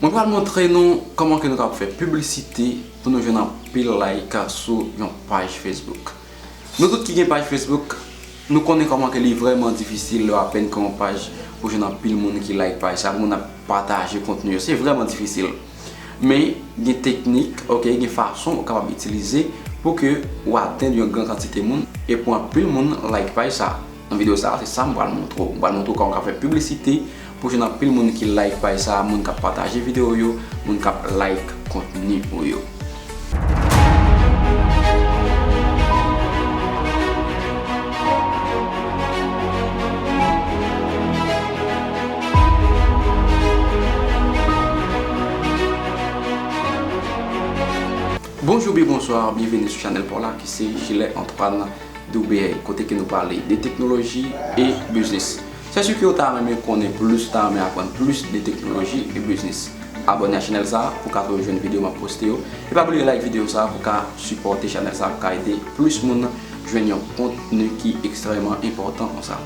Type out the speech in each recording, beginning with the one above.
Mwen pral montre nou kòman ke nou kab fè piblisite pou nou jwenn anpil like sou yon paj Facebook. Nou tout ki gen paj Facebook, nou konnen kòman ke li vrèman difisil lè w apèn kreye yon paj pou w jwenn anpil moun ki like paj sa, moun ap pataje kontni yo, se vrèman difisil. Men, gen teknik, ok, gen fason ou kapab itilize pou ke ou atenn yon gran kantite moun e pou anpil moun like paj sa. Nan video sa se sam pral montre w. M pral montre w kòman w ka fè piblisite pou jwenn anpil moun ki like paj sa, moun kap pataje video w yo, moun kap like kontni ou yo. Bonjou ubyen bonswa, byenveni sou chanèl pa w la ki se Jilè Antreprenè. WBA, kote ke nou pale de teknoloji e biznis. Sè si ke ou ta renmen konnen plis, ou ta renmen aprann plis de teknoloji e biznis, abòne a chanèl sa pou ka toujou jwenn video map poste yo. E pa bliye like video sa pou ka sipòte chanèl sa pou ka ede plis moun jwenn yon kontni ki ekstrèman enpòtan konsa.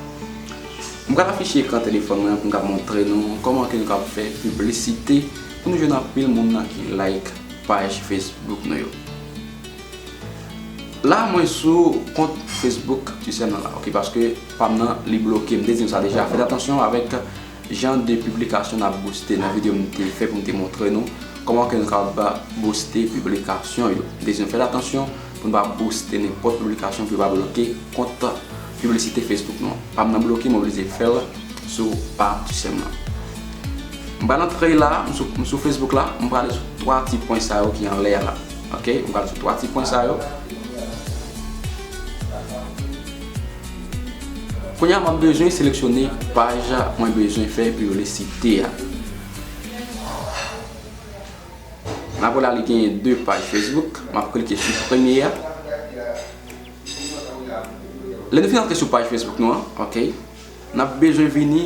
M pral afiche ekran telefòn mwen an pou m ka montre nou kòman ke nou kab fè piblisite pou nou jwenn anpil moun ki like paj Facebook nou yo. La mwen sou kont Facebook Tisèl nan la ok paske pam nan li bloke m te di nou sa deja fèt atansyon avèk jan de piblikasyon nap bouste nan video m te fè pou m te montre nou kòman ke nou kapab bouste piblikasyon yo m te di nou fèt atansyon pou nou pa bouste nenpòt piblikasyon pou yo pa bloke kont piblisite Facebook nou an pam nan bloke m oblije fèl sou pa Tisèl nan m pral antre la m sou Facebook la m prale sou 3 ti pwen sa yo ki anlè a la. Ok, m pral sou 3 ti pwen sa yo. Kounye a map bezwen seleksyone paj mwen bezwen fè piblisite a. Nan kou la li genyen 2 paj Facebook, map klike sou premye a. Lè nou fin antre sou paj Facebook nou an, ok. Nap bezwen vini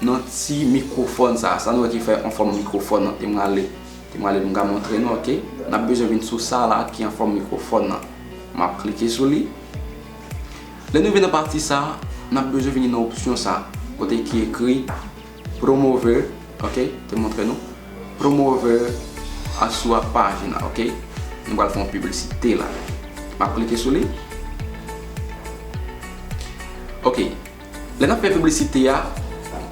nan ti mikrofòn sa a, sa nou wè ki fè an fòm mikrofòn nan, te mwale, te mwale pou m ka montre nou ok, nap bezwen vin sou sa la ki an fòm mikrofòn nan, map klike sou li, lè nou rive nan pati sa a, nap bezwen vini nan opsyon sa a, kote ki ekri promove. Ok te montre nou promo over a sou a page la ok nou pral fè yon publicite la map klike sou li ok lè nap fè publicite ya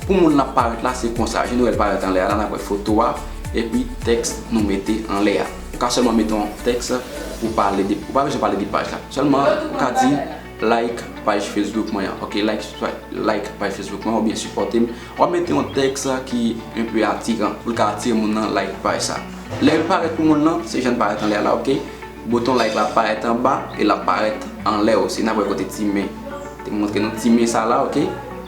pou moun nap parèt la se konsa je nou wèl parèt anlè a la nap wè foto a epi teks nou mete anlè a ou ka sèlman mete yon teks ou pa bezwen pale de page la sèlman ou ka di Like paj Facebook mwen an ok like paj Facebook mwen an ou byen sipòte m wap mete yon tèks ki enpe atiran pou l ka atire moun nan like paj sa lè l parèt pou moun lan se jan l parèt anlè a la ok bouton like la ap parèt anba e l ap parèt anlè osi n ap wè kote ti men te montre nou ti men sa la ok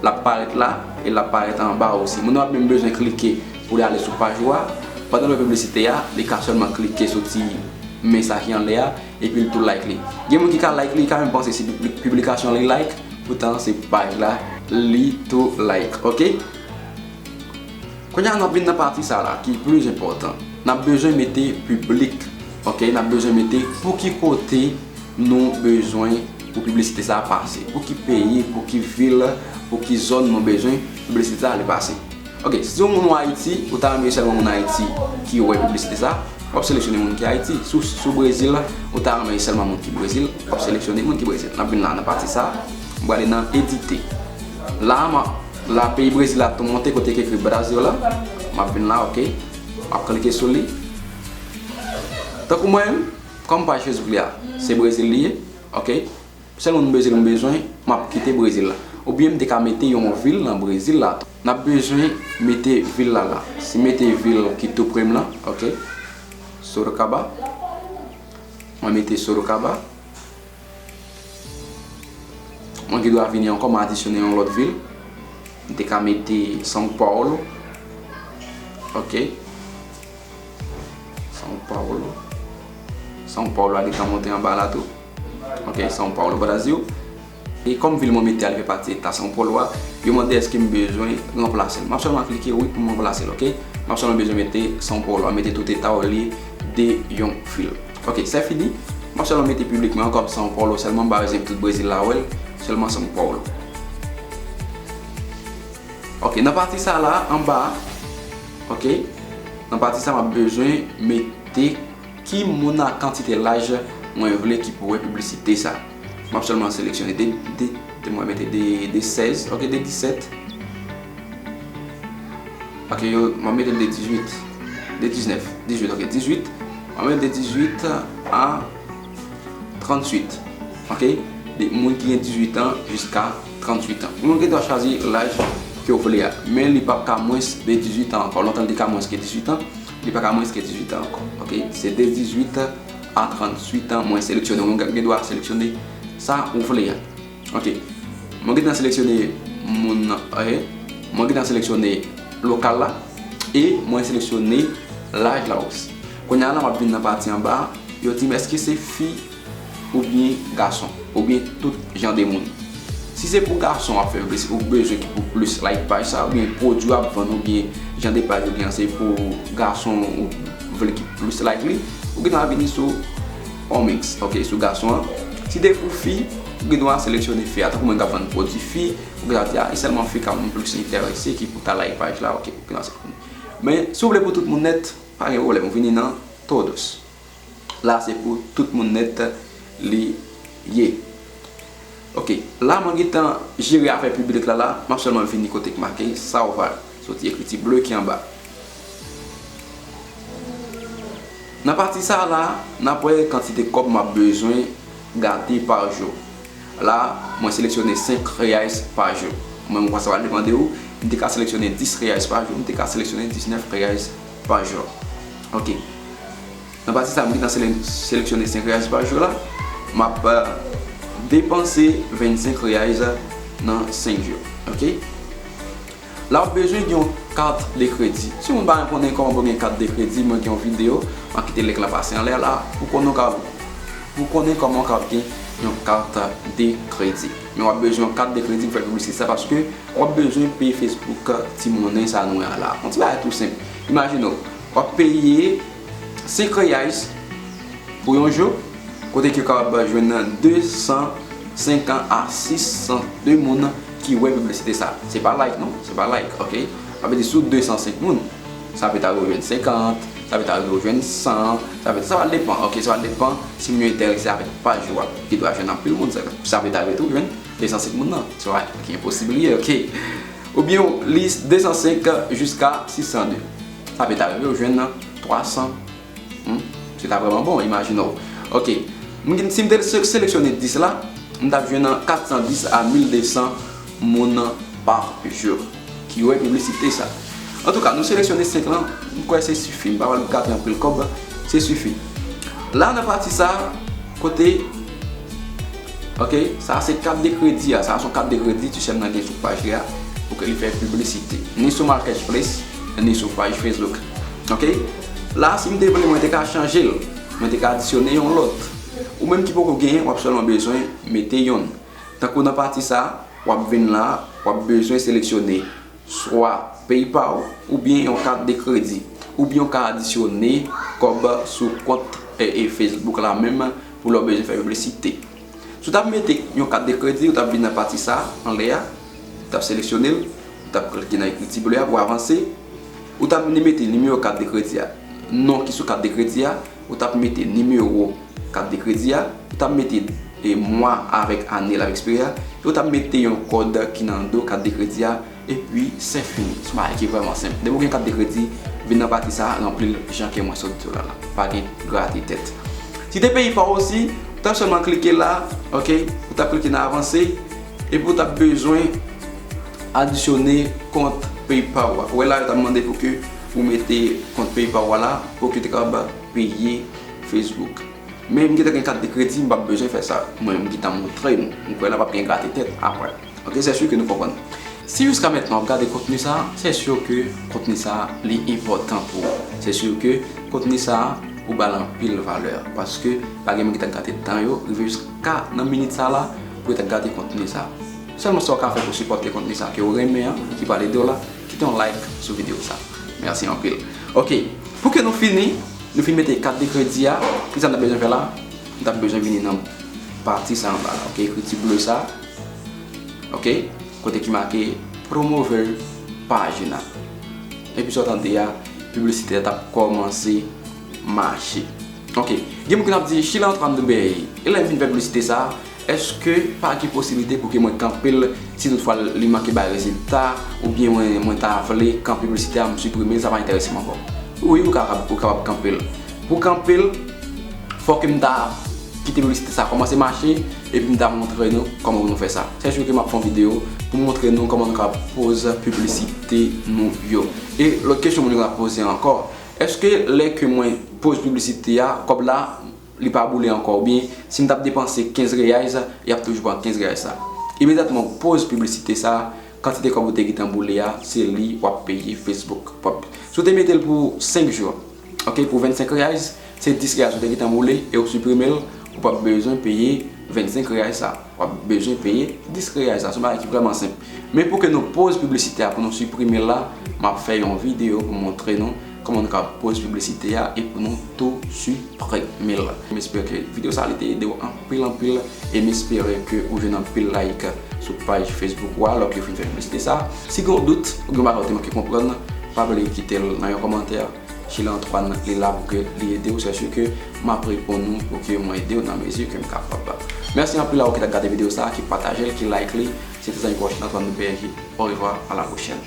l ap parèt la e l ap parèt anba osi moun nan ap menm bezwen klike pou l ale sou paj ou a pandan l wè piblisite a li ka sèlman klike sou ti men sa ki anlè a. Epi l tou like li. Gen moun ki ka like li ka menm panse se piblikasyon li like poutan se paj la li tou like ok. Kounya nap vin nan pati sa la ki plis enpòtan. Nap bezwen mete piblik ok nap bezwen mete pou ki kote nou bezwen pou piblisite sa pase. Pou ki peyi pou ki vil pou ki zòn nou bezwen piblisite sa ale pase. Ok, si se yon moun ou Ayiti, ou ta renmen sèlman moun Ayiti ki wè piblisite sa, wap seleksyone moun ki Ayiti. Si w Brezil, ou ta renmen sèlman moun ki Brezil, wap seleksyone moun ki Brezil. Nap vin la nan pati sa, m prale nan edite. La a, la peyi Brezil la ap tou monte kote ki ekri Brasil la. Map vin la ok, map klike sou li. Tankou mwen menm, kòm paj Facebook li a, se Brezil li ye, ok. Sèlman m bezil m bezwen map kite brezil la oubyen m te ka mete yon vil nan brezil la tou nap bezwen mete vil la la si mete vil ki tou prem lan ok sorocaba mwen mete sorocaba mwen gen dwa vini ankò m adisyone yon lòt vil m te ka mete são paulo ok são paulo são paulo a gen tan monte anba la tou. Ok, São Paulo, Brasil. E kòm vil mwen mete a li fè pati eta São Paulo a, yo mande èske m bezwen ranplase l. M ap sèlman klike wi pou m ranplase l, ok. M ap sèlman bezwen mete São Paulo a, mete tout eta yo olye de yon vil. Ok, se fini. M ap sèlman mete piblik mwen an kòm São Paulo sèlman, ba rezève tout Brezil la wè l, sèlman São Paulo. Ok, nan pati sa la, anba a, ok, nan pati sa m ap bezwen mete. Ki moun ak kantite laj mwen vle ki pou wè piblisite sa? M ap sèlman seleksyone de, de, de mwen mete de, de 16, ok de 17. Ok yo, m ap mete l de 18, de 19, 18 ok 18, m ap mete de 18 a 38 ok de moun ki gen 18 an jiska 38 an. Nou gen dwa chwazi laj ke w vle a, men li p ap ka mwens de 18 an ankò, lontan li te ka mwens ke 18 an. Li pa ka mwens ke 18 tan ankò ok se de 18 a 38 tan mwen seleksyone ou gen dwa seleksyone sa ou vle a ok mwen gentan seleksyone moun nan ok mwen gentan seleksyone lokal la e mwen seleksyone laj la osi kounya la map vin nan pati anba yo dim eske se fi oubyen gason oubyen tout jan de moun si se pou gason wap fèl plis ou bezwen ki pou plis like paj sa oubyen pwodwi wap vann oubyen jan de paj ou gen an se pou gason ou vle ki pou plis like li ou gen dwa vini sou omix ok sou gason an si se pou fi ou gen dwa seleksyone fi a tankou mwen kap vann pwodwi fi ou gen dwa di a e sèlman fi kap plis enterese ki pou ta like paj la ok men si ou vle pou tout moun nèt pa gen pwoblèm ou vini nan todos la se pou tout moun nèt li ye ok la mwen gentan jere afè piblik la la map sèlman vini kote ki make sa ou va soti ekriti ble ki anba nan pati sa la nap wè kantite kòb map bezwen gate pa jou la mwen seleksyone 5 reyais pa jou mwen mwen sa va depande ou m te ka seleksyone 10 reyais pa jou m te ka seleksyone 19 reyais pa jou ok. Nan pati sa m gentan seleksyone 5 reais pa jou la, m ap depanse 25 reais nan 5 jou. Ok. La ou bezwen gen yon kat de kredi. Si ou pa konnen kòman pou gen kat de kredi, mwen gen yon video, m ap kite link la pase anlè la, pou konnen kòman ou kab gen yon kat de kredi. Men w ap bezwen yon kat de kredi pou fè piblisite sa paske w ap bezwen peye Facebook ti monnen sa nou wè an la. Yon ti bagay tou senp. Imajine w. W ap peye 5 Reais pou yon jou, kote ke w kapab jwenn 250 a 600 de moun ki wè piblisite sa. Se pa like non, se pa like, ok. Sa vle di sou 205 moun, sa pèt arive w jwenn 50, sa pèt arive w jwenn 100, sa pèt, sa va depan, ok, sa va depan si moun yo enterese avèk paj ou a. Ki dwa jwenn anpil moun, sa pèt arive tou w jwenn 205 moun nan, se pa enposib li ye, ok. Oubyen w li 205 jiska 602. Sa pe ta rive ou jwenn 300 humm se ta vreman bon imajine w ok si m te seleksyone 10 la m tap jwenn 410 a 1200 moun par jou ki wè piblisite sa antouka nou seleksyone 5 lan m kwè se sifi m pa pral gate anpil kòb se sifi la nan pati sa kote ok sa se kat de kredi sa son kat de kredi ti sè m nan gen sou paj li a pou ke li fè piblisite ni sou marketplace. Ni sou paj Facebook ok la sim te vle mwen te ka chanjel mwen te ka adisyone yon lòt ou menm ki poko genyen wap sèlman bezwen mete yonn tankou nan pati sa wap vin la wap bezwen seleksyone swa paypal oubyen yon kat de kredi oubyen ou ka adisyone kòb sou kont Facebook la menm pou lè ou bezwen fè piblisite. Si w t ap mete yon kat de kredi, ou t ap vin nan pati sa a anlè a, ou t ap seleksyone l, ou t ap klike nan ekriti ble a pou avanse, ou t ap vini mete nimewo kat de kredi a, non ki sou kat de kredi a, ou t ap mete nimewo kat de kredi a, ou t ap mete mwa avèk ane l ap ekspire a, epi ou t ap mete yon kòd ki nan do kat de kredi a. Epi se fini. Son bagay ki vrèman senp. Depi ou gen kat de kredi, vin nan pati sa a, ranpli l jan ke mwen sot di w la la. Pa gen grate tèt. Si te peyi pa w osi, ou t ap sèlman klike la, ok, ou t ap klike nan avanse, epi ou t ap bezwen adisyone kont peyi pa w a. Ou wè la yo t ap mande pou ke ou mete kont peyi pa w a la pou ke te kapab peye Facebook. Men m gentan gen kat de kredi, m p ap bezwen fè sa. Mwen m gentan montre nou. M kwè la p ap gen grate tèt aprè. Ok sè su ke nou konprann. Si jiska mentnan wap gade kontni sa, sè sur ke kontni sa li enpòtan pou ou. Sè sur ke kontni sa ou bal anpil valè. Paske pa gen moun ki ta gade tan yo rive jiska nan minit sa la pou yo ta gade kontni sa. Sèlman sa ou ka fè pou sipòte kontni sa ke ou renmen an, ki pral ede ou la, kite yon like sou video sa. Mèsi anpil. Ok, pou ke nou fini, nou fin mete kat de kredi a, kisa nou ta bezwen fè la? Nou ta bezwen vini nan pati sa anba la, ok, ekriti ble sa. Ok kote ki make promove pagina epi sa w tande a piblisite a tap kòmanse mache ok gen moun ki tap di chile antran de bèy e lè m fin fè piblisite sa èske pa gen posiblite pou ke mwen kanpe l si tout fwa li manke bay rezilta oubyen mwen ta vle kan piblisite a m siprime l sa pa enterese m ankò wi ou kapab kanpe l pou kanpe l fò ke m ta kite piblisite sa kòmanse mache Epi m ta montre nou kòman pou nou fè sa. Chak jou ke m ap fè yon video pou m montre nou kòman nou ka poze piblisite nou yo. E lòt kesyon moun yo ka poze ankò, èske lè ke mwen poze piblisite a, kòb la li pa boule ankò? Oubyen si m t ap depanse 15 reais, y ap toujou pran 15 reais la? Imedyatman ou poze piblisite sa, kantite kòb ou te gentan boule a, se li w ap peye Facebook. Si w te mete l pou 5 jou. Ok pou 25 reais se 10 reais ou te gentan boule e ou siprime l ou pap bezwen peye 25 reais sa wap bezwen peye 10 reais sa se yon bagay ki vreman senp men pou ke nou poz piblisite a pou nou siprime l la map fè yon video pou montre nou kòman nou ka poz piblisite a e pou nou tou siprime l m espere ke video sa li te ede w anpil. Anpil anpil em espere ke ou jwenn anpil like sou paj Facebook ou a lòk yo fin fè piblisite sa. Si gen yon dout ou gen yon bagay ou te manke konprann pa bliye kitel nan yon kòmantè Sheila Antoine li la pou ke li edew sè su ke map reponn ou pou ke mwen edew nan mezi kem kapab. Mèsi anpil a ou ki ta gade video sa ki patajel ki like li se te zanmi pa ou Sheila Antoine nou pnh orevwa a la pwochèn.